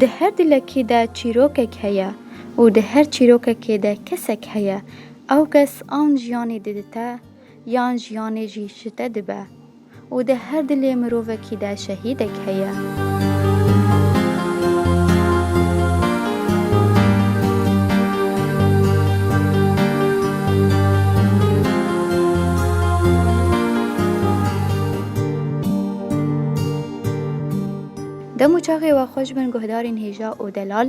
Di her dilekî de çîrokek heye û di her çîrokekê de kesek heye. Ew kes an jiyanê didite yan jiyanê jî ji te dibe. Û di her dilê mirovekî de şehîdek heye. Dem û çaxê we xweş bin guhdarên hêja û delal.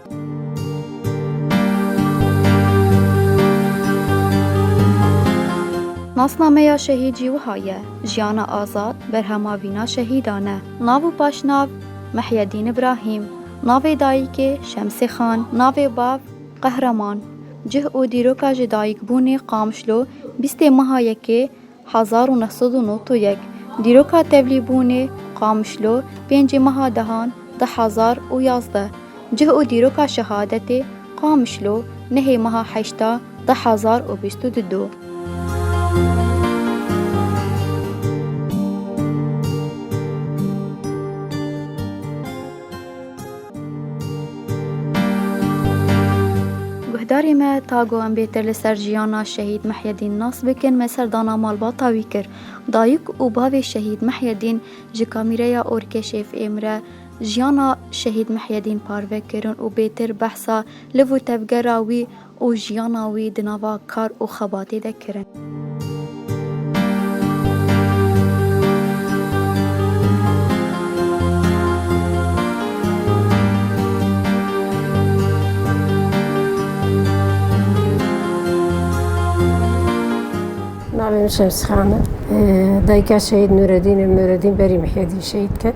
Nasnameya şehîd jî wiha ye, Jiyana Azad, berhema vîna şehîdan e. Nav û paşnav, Mihyedîn Ibrahîm, navê dayîkê, Şemsê Xan, navê bav, Qehreman. Cih û dîroka ji dayîkbûnê Qamişlo bîstê meha yekê, Hezar û neh sed û nod û yek Dîroka tevlîbûnê, Qamişlo, pêncî meha dehan di hezar û yazdeh Cih û dîroka şehadetê, Qamişlo, nehê meha heşta di hezar û bîst û du Do. Guhdarê me ta ku em bêtir li ser jiyana Şehîd Mihyedîn nas bikin me serdana malbata wî kir. Dayik û bavê Şehîd Mihyedîn ji kamîreya ORKŞF'ê re jiyana Şehîd Mihyedîn parve kirin û bêtir behsa liv û tevgera wî, û jiyana wî di nava kar û xebatê de kirin. Navê min Şemsîxan e. Dayika Şehîd Nûredîn e. Nûredîn berî Mihedî şehîd ket.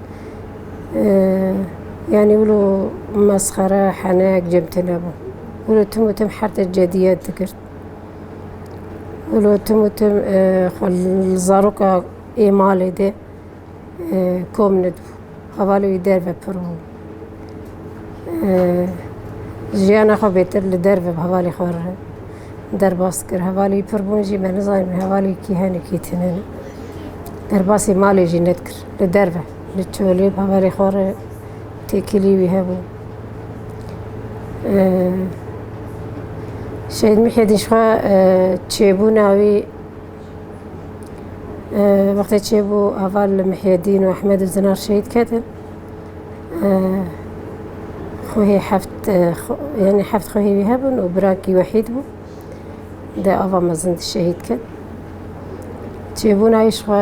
Yanî wilo mesxere, henek cem tune bû. Wilo tim û tim hertê cediyet dikir. Wilo tim û tim xwe li zaroka ê malê de kom nedibû. Hevalê wî derve pir bû. Jiyana xwe bêtir li derve bi hevalê xwe re derbas dikir. Hevalê wî pir bûn jî me nizanîbû hevalê wî kî hene kî tune ne. Derbasî malê jî nedikir. Li derve li çolê bawerê xwe re têkilî wî hebû. Şehîd Mihedîn ji xwe çêbûna wî wextê çêbû heval li Mihedîn û Ehmed û Zinar şehîd ketin. Xwehî heft yanî heft xwehî wî hebûn û birakî wehîd bû. Di ava mezin de şehîd ket. Çêbûna wî ji xwe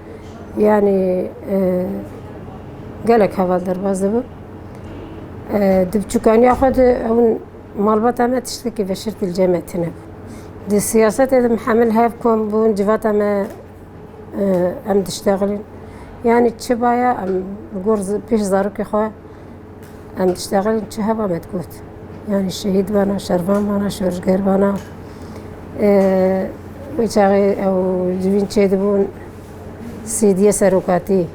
yanî gelek heval derbas dibin. Di biçûkaniya xwe de ew malbata me tiştekî veşert li cem me tune bû. Di siyasetê de mihemil hev kom bûn civata me em diştexilîn. Yanî çi baya em li gor pêş zarokê xwe Em dişteqilin çi heva me digot. Yanî şehîd vana, şervan vana, şorişger vana. Wê çaxê ew ji vîn çêdibûn sêdiye serokatî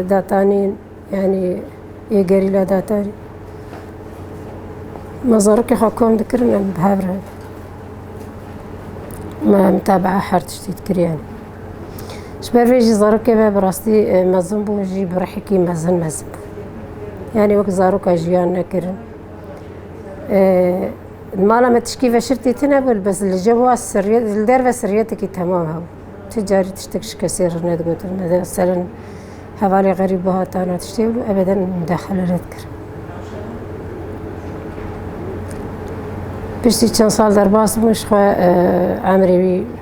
datanîn yanî yê gerîla datanîn. Me zarokê xwe kom dikirin em bi hev re. Me mitabaa her tiştî dikiriye. Ji ber vê jî zarokê me bi rastî e, mezin bû jî bi rihekî mezin mezin bû. Yanî wek zaroka jiyan nekirin. E, Li mala me tişkî veşir tê tune bû bes li ceva sirriyet li derve sirriyetekî temam hebû. Ti carî tiştek ji kesê re nedigotin. Meselên hevalê xerîb bihatan û tiştê bû ebeden mudexele nedikir. Piştî çend sal derbas bû ji xwe e, emrê wî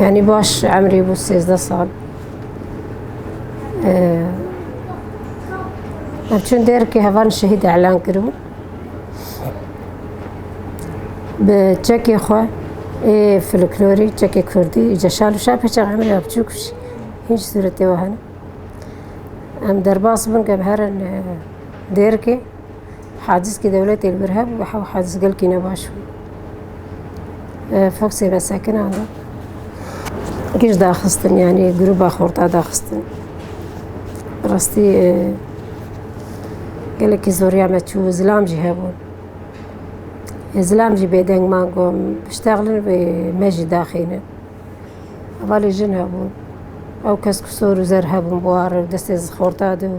Yani baş emrê bu 13 sal. Çün der ki hevan şehîd elan kiribû. Bi çekê xwe ê folklorî, çekê kurdî, ceşal û şa peçe emrê ya biçûk hiç suretê we hene. Em derbas bin ke bi herin Dêrkê hacizkî dewletê li vir hebû bi hew haciz gelkî ne baş bû. Foxê ve sekinan da. Giş daxistin yanî grûba xorta daxistin. Rastî gelekî zoriya me çû zilam jî hebû. Zilam jî bêdeng man got biştexlin wê me jî daxînin. Hevalê jin hebû. Ew kes ku sor û zer hebûn buwarin destê xorta de û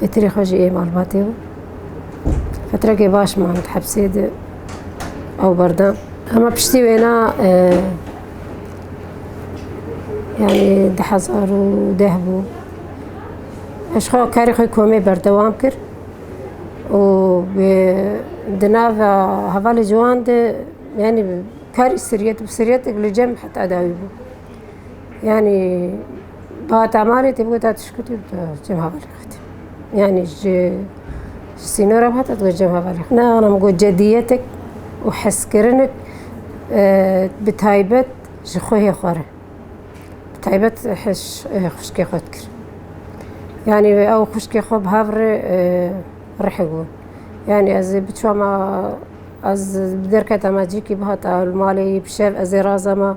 Pêtirê xwe jî ê malbatê bû. Fetrekê baş man di hepsê de ew berda. Hema piştî wêna yanî di hezar û deh bû. Ez xwe karê xwe komê berdewam kir û di nava hevalê ciwan de yanî karî siriyet bû. Siriyeteke li cem heta dawî bû. Yanî Ba tamarê tê bigota tu ji ku tê bi cemhavalê xwedî. Yani ji ji sînora bi hata digot cemhavalê xwedî. Nexwena min got cediyetek û hezkirinek bi taybet ji xwehê xwe re. Bi taybet xwişkê xwe dikir. Yani ew xwişkê xwe bi hev re rihek bûn. Yani ez ê biçûma ma ez derketa ma cîkî bihata li malê yî bi şev ez ê razama.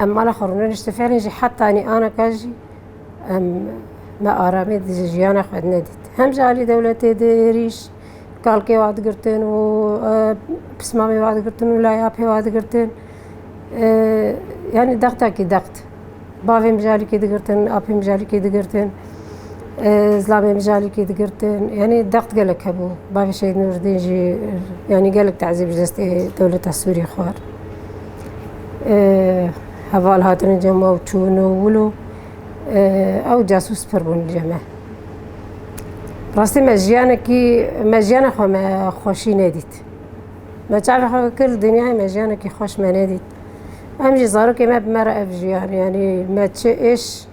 Em mala xwe rûne nişte fêrên jî heta anî anaka jî em me aramê di jiyana xwe di nedît. Hem ji alî dewletê di êrîş kalkê wa digirtin û pismamê wa digirtin û laya pê wa digirtin. Yani dextakî dext. Bavê min ji alîkê digirtin, apê min ji alîkê digirtin, zilamê min ji alîkê digirtin. Yani dext gelek hebû. Bavê Şehîd Nûrîddîn jî yani gelek tezîb ji destê dewleta Sûrî xwar. Heval hatine cem ew çûn û wil û ew casûs pir bûn cê me. Rastî me jiyanekî me jiyana xwe me xweşî nedît. Me çavê xwe kir dinyayê me jiyanekî xweş me nedît. Em jî zarokê me bi me re ev jiyan yanî me çi êş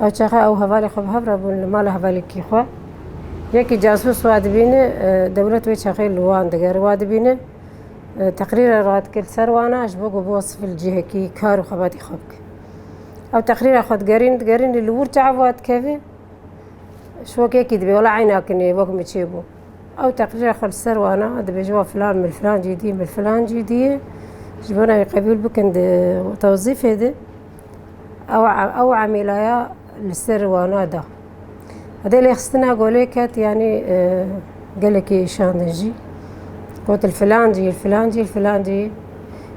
Ew çaxa ew hevalê xwe bi hev re bûn li mala hevalekî xwe. Yekî casûs wa dibîne dewlet wê çaxê li wan diger wa dibîne teqrîre re dikir li ser wan e ji bo ku bi sivil cihekî kar û xebatê xwe bike. Ew teqrîra xwe digerîn digerînî li wir çav wa dikeve ji wek yekî dibê wela eyna kinê wek min çêbû. Ew teqrîra xwe li ser wan e dibêje wa filan mil filan cî dî mil filan cî dî ye ji bo na wî qebûl bikin di tewzîfê de. Ew emêlaya li ser wana da. Xwedê lêxistina golê ket yanî gelekî şandin jî. Got li filan cî, li filan cî, li filan cî.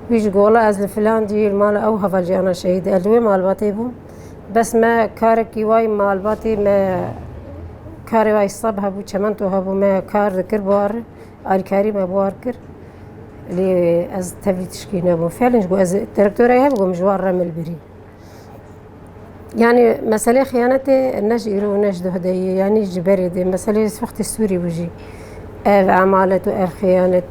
Wî ji gola ez li filan cî li mala ew hevalciyana şehîd ez li wê malbatê bûm. Bes me karekî wayî malbatê me karê wayî seb hebû, çimento hebû me kar dikir bar. Alîkarî me war kir lê ez tevlî tişkî nebû felin ji bo ez direktorayê hebû min ji wan re milbirî. Yani meselê xıyanetê ne ji îro û ne ji duhdeyê yanî ji berê dê meselê wextê Sûrî bû jî. Ev emalet û ev xıyanet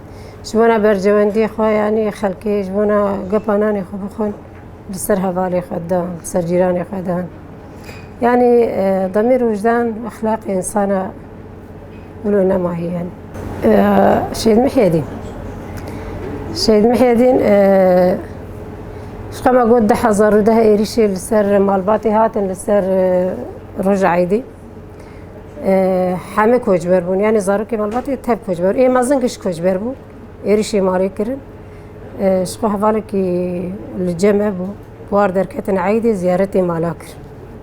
ji bona bercewendiyê xwe yanî xelkê ji bona gepa nanê xwe bixwin li ser hevalê xwe da li ser cîranê xwe dan. Yani demêr û wijdan exlaqê insana Ulo nema hiyen. Şehid Mihyedîn. Şehid Mihyedîn xema got di hezar û deh êrîşê li ser malbatê hatin li ser roja Eydî. Hemê koçber bûn yani zarokê malbatê tep koçber. Ê mezin giş koçber bû. Êrîşê malê kirin. Ji xwe hevalekî li cem hebû. War derketin Eydê ziyaretê mala kir.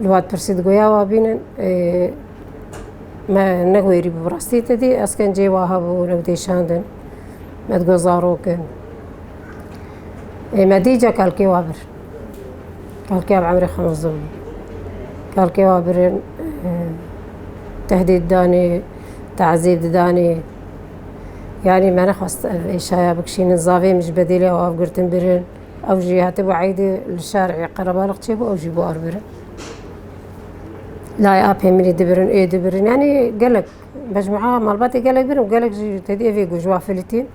Li wat pirsî digoya wa bînin me nexwêrî bi rastî te dî eskencê waha bû rewdêşandin me digo zarokin ê me dî ca kalkê wa bir kalkê ev emrê xemizin bû kalkê wa birin tehdîd danê tazîb didanê yanî me nexwest ev êşaya bikişînin zavê min ji bedêlê ew av girtin birin Ew jî hatibû eydê li şarê qerebalix çêbû ew jî bû arbir. Lay apê min ê dibirin ê dibirin yanî gelek mecmueya malbatê gelek birin û gelek jî tedî evê ku ji wafilîtî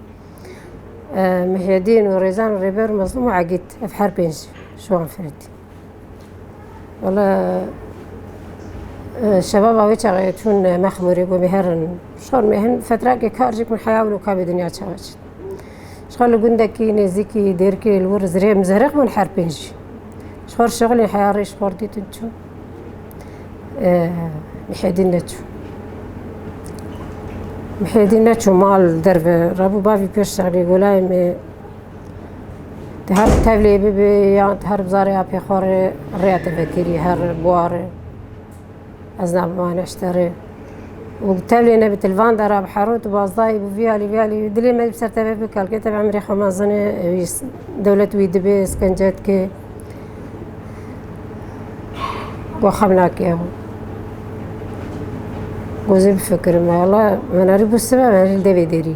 Mihyedîn û Rêzan û Rêber û Mezlûm û Egîd ev her pênc ji wan filîtî. Wala şebaba wê çaxê çûn mexmûrê ku bêherin şor mêhin fetrakê kar jî ku min heya wilo ka bi dinya çawa çit. Şixwe li gundekî nêzîkî Dêrkê li wir zirê mizeriq bûn her pênc jî. Şixwe şixulê heya rê şixwe dîtin çû. Mihêdîn neçû. Mihêdîn neçû mal derve. Rabû bavî pêş şixulê golayê me Te her tevlê bibê yan te her bizarê apê xwe rê rêya te vekirî her buwarê. Ez nabimane eşterê. Û tevlê ne bi tilvan de ra bi hero tu bazdayî bi vî alî vî alî dilê me bi ser tevê bi kalkê tevê emirê xwe mezine wî dewlet wî dibê skence dikê. Got xem nakê ew. Gozê bifikirim. Wala min erî bû sibe min erî li devê derî.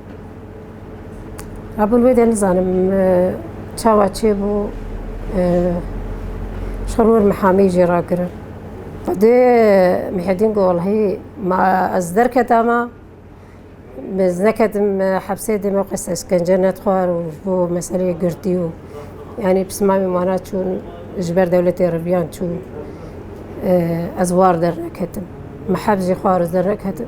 Abûn wê de nizanim çawa çêbû şer wir mihamî jê rakirin. Xwedê Mihedîn got wellehî ma ez derketa ma ez neketim hepsê dê me qes eskence nedixwar û ji bo meseleyê girtî û yanî pismamê wana çûn ji ber dewletê re viyan çûn ez war derneketim. Miheb jî xwarin ez derneketim.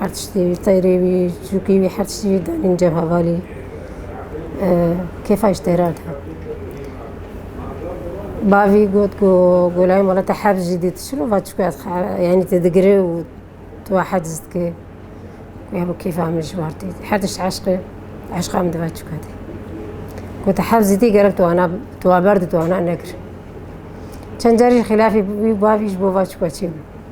Her tiştî wî teyri wî çûkî wî her tiştî wî danîn cebha valî kêfa ji teyran hat. Bavî got ku golayê mala te hevz jî dît çi va çûka ez yanî te digire û tu va hevz dikî ya bo kêfa min ji war tê her tişt eşq e eşqa min diva çûka de. Got te hevz dîtî gerek tu wana tu wa berdî tu wana nekir. Çend carî xîlafî bû bavî ji bo va çûka çê bû.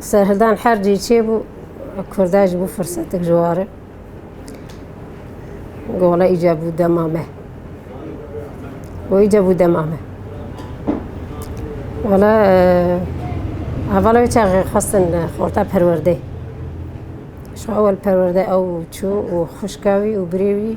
Serhildan hercî çêbû Kurda ji bo firsetik ji war e. Gola îca bû dema me. Û îca bû dema me. Wala hevala wê çaxê xwestin xorta perwerdeyê. Şu ewel perwerde ew çû û xuşka wî û birê wî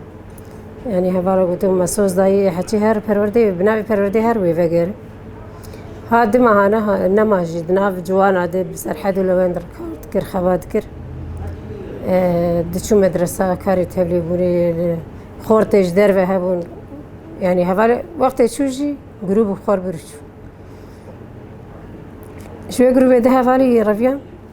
Yani hevara gotin mesoz dayî heçî her perwerdeyê bi navê perwerdeyê her wê veger. Ha di mehane nema jî di nav ciwana de bi serhed û lewend rikar dikir xeba dikir. Diçû medresa karê tevlêbûnê li xortê ji derve hebûn. Yani hevalê wextê çû jî grûb û xor birûçû. Ji wê grûbê de hevalî reviyan.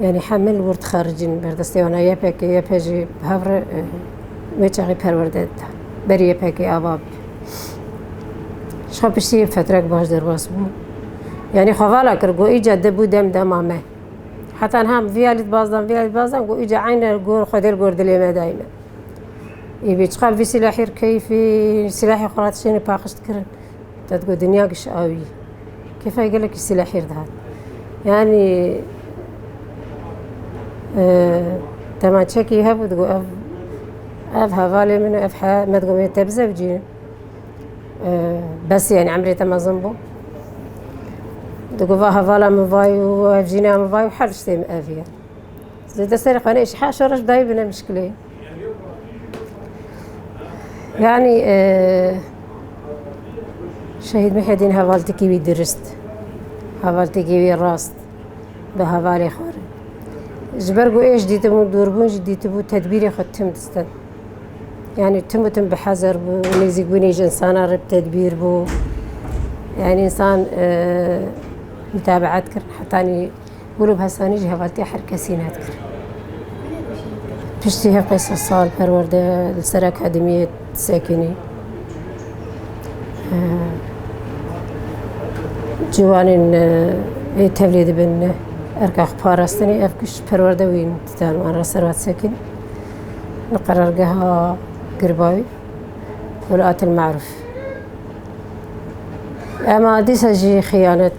Yanî heme li wir dixericîn berdestê wan a YPG, YP jî bi hev re wê çaxê perwerde dida. Berî YPG ava bû. Ji xwe piştî yê fetrek baş derbas bû. Yanî xwe vala kir got îca di bû dem dema me. Heta niha vîya lî dibazdan vîya lî dibazdan got îca eyne gor xwe dêr gor dilê me dayne. Î bê çiqa vî sîlahî keyfî sîlahê xwe ra tiştêne paqijkirin. Te digot dinya giş awî. Kêfa gelekî sî lehîr dihat. Yanî temaçekî hebû digot ev ev hevalê min ev he me digot wê te bizewcî. Besî yanî emrê te mezin bû. Digot va hevala min vay û ev jîna min vay û her tiştê min ev ye. Zêde serê xwe nêşî heşa reş dayî bine mişkilê. Yani Şehîd Mihedîn hevaltekî wî dirist, hevaltekî wî rast bi hevalê xwe re. Ji ber ku êş dîtibû, dûrbûn jî dîtibû tedbîrê xwe tim distin. Yani tim û tim bi hezer bû, nêzîkbûnê ji insana re bi tedbîr bû. Yani insan mutabeat kir hetanî Gulûb Hesanî jî hevatiya her kesî net kir. Piştî her qey sal perwerde li ser akademiyê sekinî. Ciwanên ê tevlê dibin erka xwe parastinê ev kuş perwerde wî didan wan re servat sekin. Li qerargeha Girbavî Hulatil Maruf. Ema dîsa jî xiyanet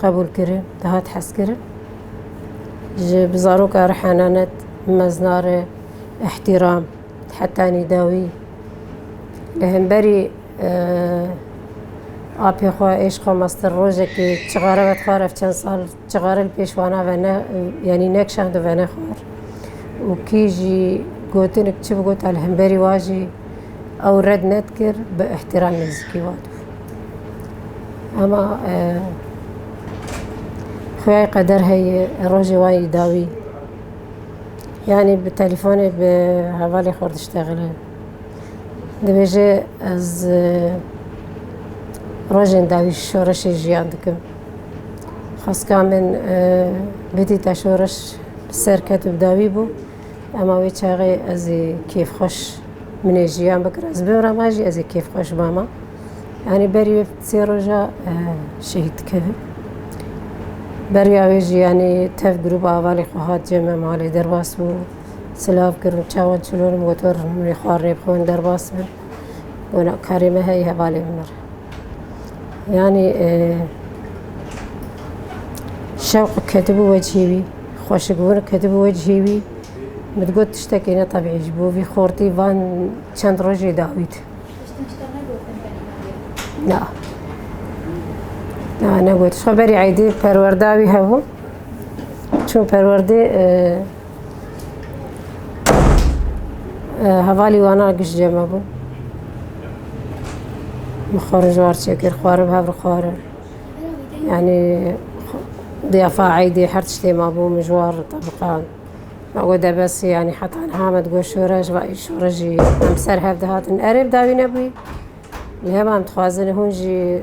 Qebûl kirin, dihat hezkirin. Ji bi zaroka re henanet, mezna re îhtîram, heta nîdawî. Li hemberî apê xwe, êşqa master rojekê çixare ve dixwar, ev çend sal çixare li pêş wana ve ne yanî ne kişand û venexwar. û kî jî gotinik çi bigota li hemberî wa jî ew red nedikir bi îhtîram nêzîkî wan. Ema xuyayê qeder heye rojê wan yî dawî. Yanî bi telîfonê bi hevalê xwe re diştexile. Dibêje ez rojên dawî şoreşê jiyan dikim. Xwestka min bidîta şoreş li ser ket û bi dawî bû. Ema wê çaxê ez ê kêfxweş min ê jiyan bikir ez bimrama jî ez ê kêfxweş bama. Yanî berî wê sê roja e, şehîd dikeve. Beriya wê jî yanî tev grûp avalê xwe hat cem me malê derbas bû. Silav kirin çawan çilon got wer min ê xwarê bixwin derbas bin. Wina karê me heye hevalê min re. Yanî e, şewq ketibû wecihê wî, xweşikbûn ketibû wecihê wî. Min digot tiştekê ne tebîî ji bo vî xortî van çend rojê dawît. Na. Na negot. Xwe berî eydê perwerda wî hebû. Çûn perwerdê e, Hevalî wan a giş cem hebû. Min xwarin ji war çêkir, xwarin hev re xwarin. Yani diyafa eydê her tiştê mabû min ji war tebiqan. Ma got debesî yani heta niha me digot şoreş va î şoreş jî em ser hev dihatin. Erê bi dawî nebûyî. Li hev em dixwazin hûn jî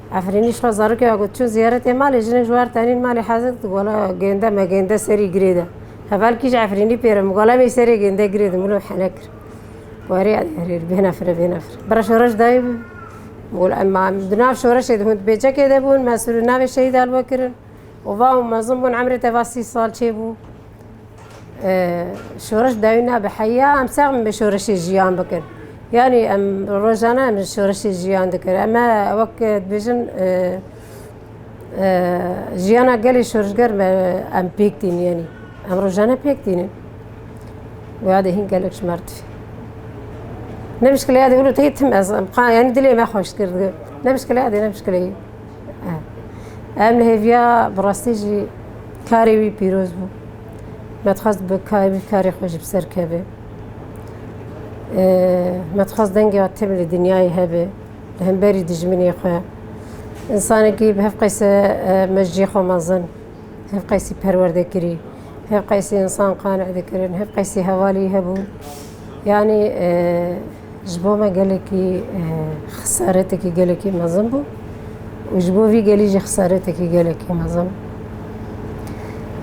Efrînî şiva zarokê ya got, Çûn ziyaretê malê, jinê ji war tenîn malê heze dikin, gola gênde me gênde serî girê de. Heval kî ji Efrînî pêre min, gola me serê gênde girê de, min û hene kir. Werî ya herêr, bênefire bênefire. Bira şoreş dayî bû. Gol em di nav şoreşê de hûn bêçekê de bûn, me sûrû navê şehîd alwe kirin. Û va hûn mezin bûn, emrê te va sî sal çêbû. Şoreş dayî nabe heya em ser min bi şoreşê jiyan bikin. Yanî em rojane em şoreşê jiyan dikin. Em e wek dibêjin jiyana gelê şoreşger me em pêk tîn yenî. Em rojane pêk tînin. Wê de hîn gelek ji merdî. Ne mişkile ya dê wilo tê tim ez. Em qan yani dilê me xweş kir. Ne mişkile ya dê ne mişkile Ev li hêviya bi rastî jî karê wî pîroz bû. Me dixwest bi wî karê xwe jî bi ser keve. Me dixwest dengê wan tim li dinyayê hebe li hemberî dijminê xwe. Însanekî bi hev qeyse me ji cihê xwe mezin, hev qeysî perwerde kirî, hev qeysî însan qane dikirin, hev qeysî hevalî hebû. Yanî Ji bo me gelekî xesaretekî gelekî mezin bû û ji bo vî gelî jî xesaretekî gelekî mezin.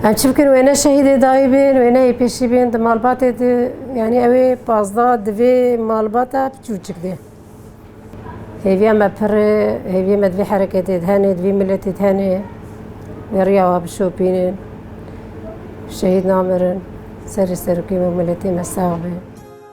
Em çi bikin wê ne şehîdê dayî bên, wê ne yê pêşî bên di malbatê di yanî ew ê pazda di vê malbata piçûçik de. Hêviya me pir e, hêviyê me di vê hereketê de hene, di vê miletê de hene. Wê riya wan bişopînin. Şehîd namirin. Serê serokê me û miletê me sax be.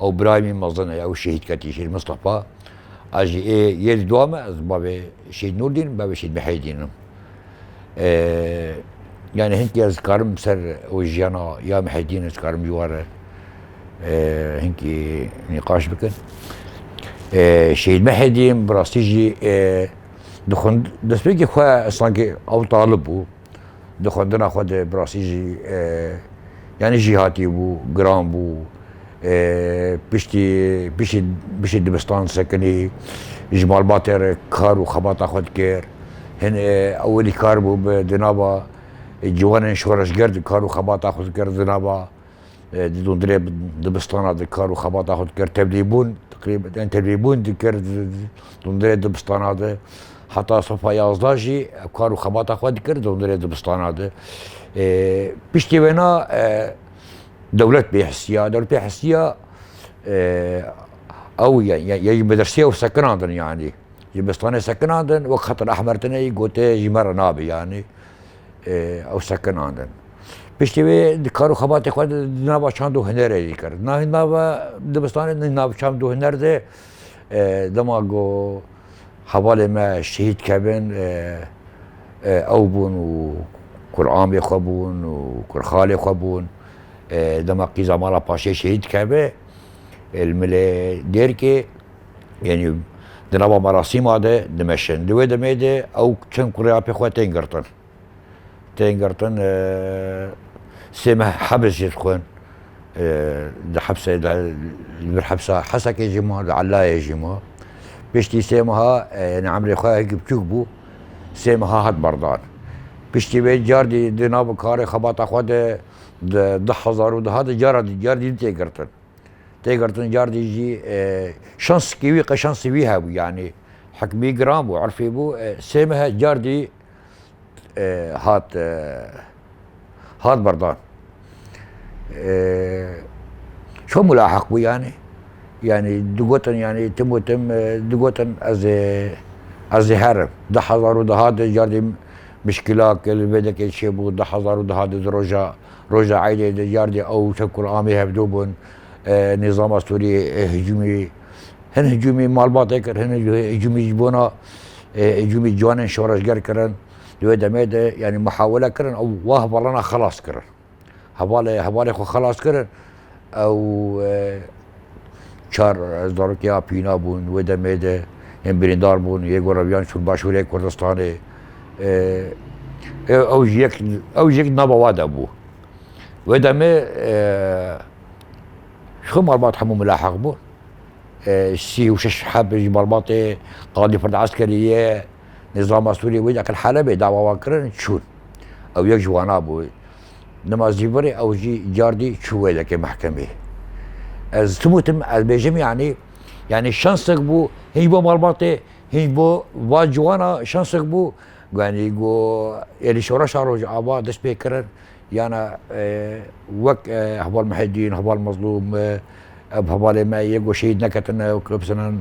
Ew birayê min mezin e, ew şehîd ketiye Şehîd Mistefa. Ez jî ê yê li dua me ez bavê Şehîd Nûrdîn, bavê Şehîd Mihêdîn im. Yani hinkî ez dikarim ser ew jiyana ya Mihêdîn ez dikarim ji war hinkî nîqaş bikin. Şehîd Mihêdîn bi rastî jî dixwend destpêkê xwe sanki ew talib bû. Di xwendina xwe de bi rastî jî yanî jîhatî bû, giran bû. Piştî piştî piştî dibistan sekinî ji malbatê re kar û xebata xwe dikir. Hin ewilî kar bû bi di nava ciwanên şoreşger di kar û xebata xwe dikir di nava Didon dilê dibistana di kar û xebata xwe dikir tevlîbûn tqrîben tevlîbûn dikir didon dilê dibistana di heta sofa yazda jî kar û xebata xwe dikir didon dilê dibistana di piştî wêna dewlet bê hisiya dewlet bê hisiya ew ye ji medirsiya û sekinan din yanî ji bistanê sekinan din wek xetin ehmer tune yî gotê ji me re nabê yanî ew sekinandin. Piştî wê di kar û xebatê xwe de di nava çand û hunerê jî kir. Navê nava dibistanê di nav çand û huner de dema ku hevalên me şehîd kevin ew bûn û kuramê xwe bûn û kurxalê xwe bûn. Dema qîza mala paşê şehîd keve li milê Dêrkê Yanî di nava merasîma de dimeşin. Di wê demê de ew çend kurê ya pê xwe tên girtin. Tên girtin sê meh hebs jî dixwin. Di hebsê de li vir hebsa Hesekê jî ma, li Elayê jî ma. Piştî sê meha yanî emrê xwe hekî biçûk bû. Sê meha hat berdan. Piştî wê car dî di nav karê xebata xwe de di hezar û duha de cara dî car dî tê girtin. Têgirtin cardî jî şansikî wî qe şansî wî hebû yanî hikmî giran bû irfî bû sê mehe cardî hat hat berdan. Ço mulaheq bû yanî yanî digotin yanî tim û tim digotin ez ê ez ê herim di hezar û di hat de cardî mişkîla ke li vêdekê çêbû di hezar û di hat de di roja Roja Eydê di yardê ew Şevkul Amê hevdo bûn. Nîzama Sûrî hicûmî hin hicûmî malbatê kir, hin hicûmî ji bona hicûmî ciwanên şoreşger kirin. Di wê demê de yanî mihawele kirin û wa hevalana xelas kirin. Hevalê hevalê xwe xelas kirin. Ew çar zarokên Apîna bûn. Wê demê de yên birîndar bûn. Yê ku reviyan çûn başûrê Kurdistanê. Ew jî yek ew jî yek nava we de bû. Wê demê ji xwe malbat hemû milahiq bûn. Sî û şeş heb ji malbatê Qadî Ferd Eskerî ye, Nizama Sûrî wê de qil Helebê dawa wan kirin çûn. Ew yek ji wana bû. Nimazîbirê ew jî cardî çû wêlekê mehkemê. Ez tim û tim ez bêjim yanî yanî şansek bû hîn bo malbatê hîn bo va ciwana şansek bû yanî go êrî şoreşa Rojava dest pê kirin yana wek heval Mihedîn heval Mezlûm ev hevalê me yê go şehîd neketine û kilopsinan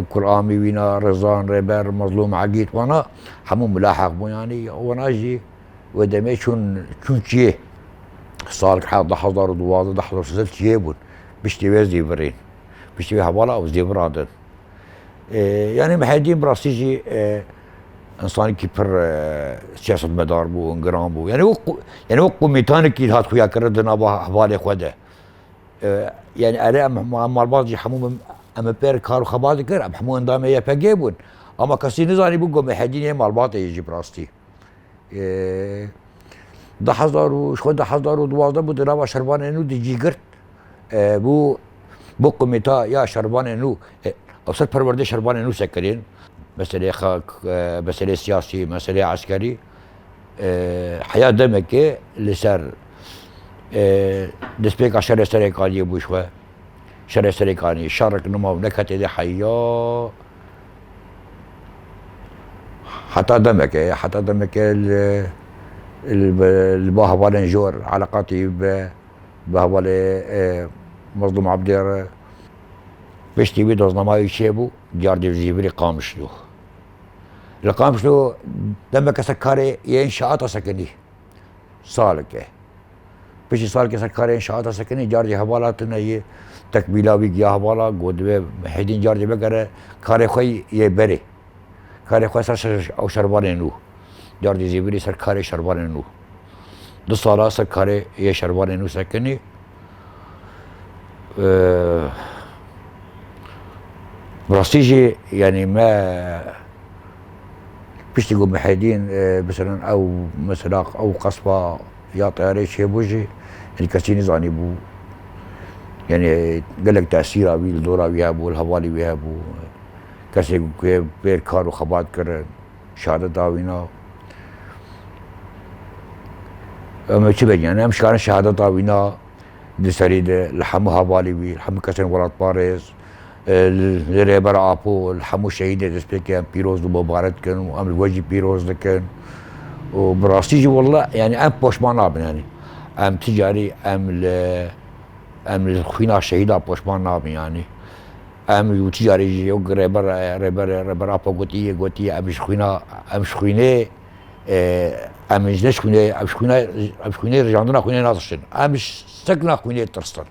Kulamî wîna Rizan Rêber Mezlûm Egîd wana hemû milaheq bû yanî wana jî Wê demê çûn Tirkiyê, salgeha di hezar û du wazdeh di hezar û sêzdeh tije bûn, piştî wê zêvirên, piştî wê hevala ew zêviran din. Yanî Mihedîn bi rastî jî însanekî pir siyasetmedar bû, giran bû. Yanî wek yanî wek komîtanekî hat xuyakirin di nava hevalê xwe de. Yanî erê em malbat jî hemû min em bi pêr kar û xebat dikir, em hemû endamê YPG'ê bûn. Ama kesî nizanîbû ku Mihedîn yê malbatê jî bi rastî. Di hezar û ji xwe di hezar û duwazdeh bû di nava şervanên nû di cî girt bû bû komîta ya şervanên nû ser perwerdeyê şervanên nû sekinîn meseleyê xak meseleyê siyasî meseleyê eskerî heya demekê li ser destpêka şerê Serêkaniyê bû ji xwe şerê Serêkaniyê şerik nima û neketê dê heya Heta demekê, heta demekê li ba hevalên jor eleqatî bi bi hevalê Mezlûm Ebdê re piştî wî doznamayê çêbû diyardî jî virî Qamişlo. Li Qamişlo demeke ser karê yên şeata sekinî salike. Piştî salike ser karê înşaata sekinî carcî hevala tune yê tekmîla wî giya hevala ku divê hêdîn carcî vekere karê xwe yê berê. Karê xwe ser ew şervanê nû. Carcî zîvirî ser karê şervanê nû. Du sala ser karê yê şervanê nû sekinî. Bi rastî jî yanî me piştî ku Mihedîn miselan ew mesela ew qesba ya teyareyê çêbû jî yanî kesî nizanîbû. Yanî gelek tesîra wî li dora wî hebû, li hevalê wî hebû. Kesên ku pê kar û xebat kirin. şare dawîna. Em çi vegîn em şare şehada dawîna di serî de li hemû hevalî wî li hemû kesên welatparêz li rêber apo li hemû şehîdê destpêkê em pîroz û mubaret dikin û em li we jî pîroz dikin û bi rastî jî walla yanî em poşman nabin yanî em ti carî em li em li xwîna şehîda poşman nabin yanî Em û tu carî jî yok rêber rêber rêber Apo gotî yê gotî yê em ji xwîna em ji xwînê em ji neş xwînê em ji xwîna em ji xwînê rijandina xwînê natiştin. Em ji sekna xwînê tirstin.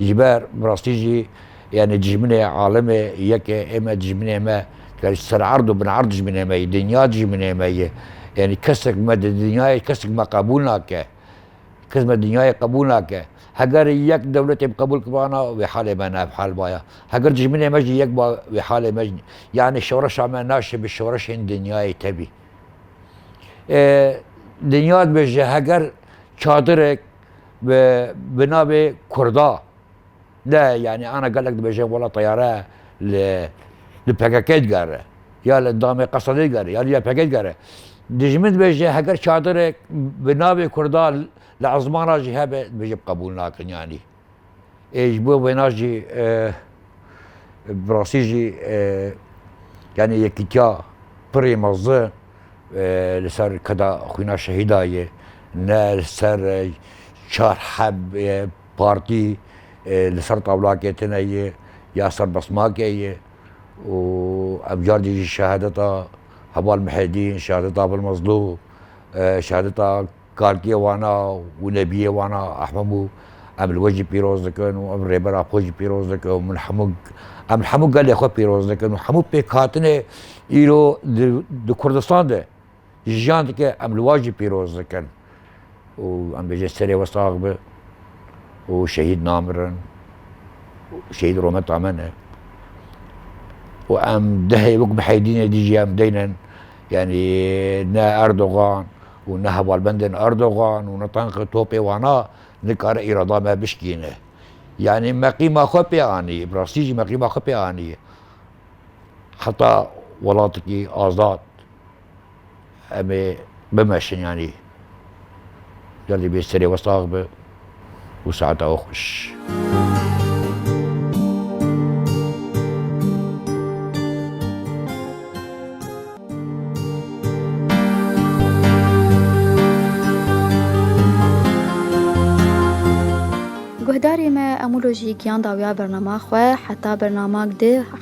Ji ber bi rastî jî yanî dijminê alimê yeke ême dijminê me dikarî ser erd û bin erd dijminê me yê, dinya dijminê me yê. Yanî kesek me di dinyayê kesek me qebûl nake. Xizmet dinyayê qebûl nake. Heger yek dewletê bi qebûl kivana wê halê me ne ev hal baya. Heger dijminê me jî yek ba wê halê me jî yanî şoreşa me naşê bi şoreşên dinyayê tevî. Ê dinya dibêje heger çadirek bi bi navê Kurda. De yanî ana gelek dibêjin wela teyare li li pkk digere ya li damê qeseda digere ya li ya pkk digere. Dijmin dibêje heger çadirek bi navê kurda li esman re jî hebe dibêje qebûl nakin yanî. Ê ji bo wêna jî bi rastî jî yanî yekîtiya pirê mezin li ser keda xwîna şehîda ye ne li ser çar heb Partî li ser tawla ketine ye ya serbestmake ye û ev car jî ji şehadeta Heval Mihedîn, şehadeta Abil Mezlû, şehadeta kalkiyê wan a û nebiyê wan a Ehmed Mû em li we jî pîroz dikin û em rêbera xwe jî pîroz dikin û min hemû em li hemû gelê xwe pîroz dikin û hemû pêkhatinê îro di Kurdistan de ji jiyan dike em li wan jî pîroz dikin û em bêjin serê we sax bi û şehîd namirin şehîd rometa me ne û em dehê wek bi heydînê dî jî em deynin yanî ne Erdogan û ne hevalbendên Erdogan û ne tanqê topê wana nikare îrada me bişkîne yanî me qîma xwe pê anî bi rastî jî me qîma xwe pê anî heta welatekî azad Em ê bimeşin yanî. Gel dibê serê we sax be û saeta we xweş. Guhdarê me Emûlo jî giyan dawiya bernama xwe heta bernama di